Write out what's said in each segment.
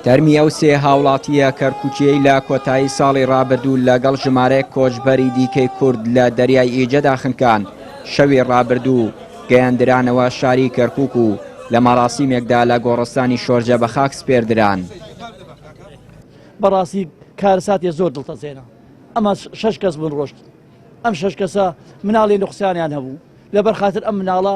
تەرمی ئەو سێ هاوڵاتییە کەرکووکییەی لە کۆتایی ساڵی ڕابردوو لەگەڵ ژمارەیەک کۆچبەری دیکەی کورد لە دەریای ئیجەدا خنکان، شەوی ڕابردوو گەیاندرانەوە شاری کەرکووک و لە مەراسیمێکدا لە گۆڕستانی شۆرجە بە خاک سپێردران. بەڕاستی کارەساتێ زۆر دڵتەزێنە. ئەمە شەش کەس بوون ڕۆشتن. ئەم شەش کەسە مناڵی نوقسانیان هەبوو، لەبەر خاتر ئەم مناڵە،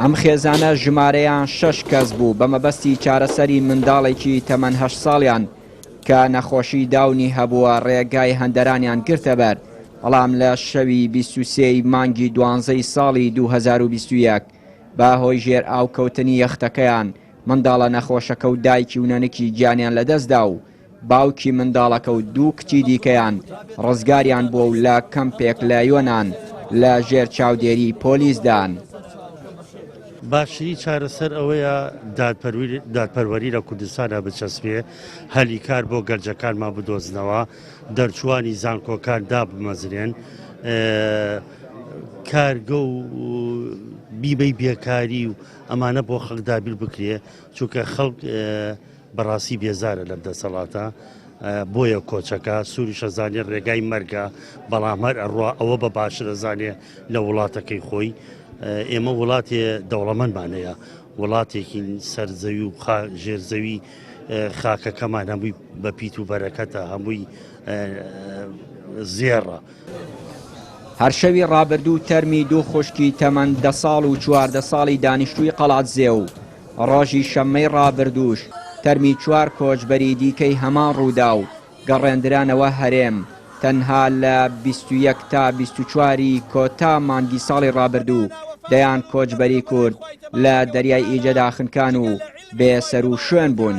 ئەم خێزانە ژمارەیان شەش کەس بوو بە مەبەستی چارەسەری منداڵێکی تەمەن هەشت ساڵیان کە نەخۆشی داونی هەبووە ڕێگای هەندەرانیان گرتە بەر، بەڵام لە شەوی بیست و سێ ی مانگی دوانزەی ساڵی دوو هەزار و بیست و یەک بە هۆی ژێرئاوکەوتنی یەختەکەیان منداڵە نەخۆشەکە و دایکی و نەنکی گیانیان لەدەستدا و باوکی منداڵەکە و دوو کچی دیکەیان ڕزگاریان بووە و لە کەمپێک لە یۆنان لە ژێر چاودێریی پۆلیسدان. باشترین چارەسەر ئەوەیە دادپەروەری لە کوردستانا بچەسپێ، هەلی کار بۆ گەنجەکانمان بدۆزنەوە، دەرچووانی زانکۆکان دابمەزرێن، کارگە و بیمەی بێکاری و ئەمانە بۆ خەڵک دابین بکرێ، چونکە خەڵک بەڕاستی بێزارە لەم دەسەڵاتە بۆیە کۆچەکە سوریش ئەزانێ ڕێگای مەرگە بەڵام هەر ئەڕوا ئەوە بە باشە دەزانێ لە وڵاتەکەی خۆی ئێمە وڵاتێ دەوڵەمەندمانەیە وڵاتێکی سەرزەوی و ژێرزەوی خاکەکەمان هەمووی بە پیت و بەرەکەتە هەمووی زێڕە هەر شەوی ڕابردوو تەرمی دوو خوشکی تەمەن دە ساڵ و چواردە ساڵی دانیشتووی قەڵادزێ و ڕۆژی شەممەی ڕابردووش تەرمی چوار کۆچبەری دیکەی هەمان ڕووداو گەڕێندرانەوە هەرێم تەنها لە بیست و یەک تا بیست و چوار ی کۆتا مانگی ساڵی ڕابردوو دەیان کۆچبەری کورد لە دەریای ئیجەدا خنکان و بێ سەروشوێن بوون.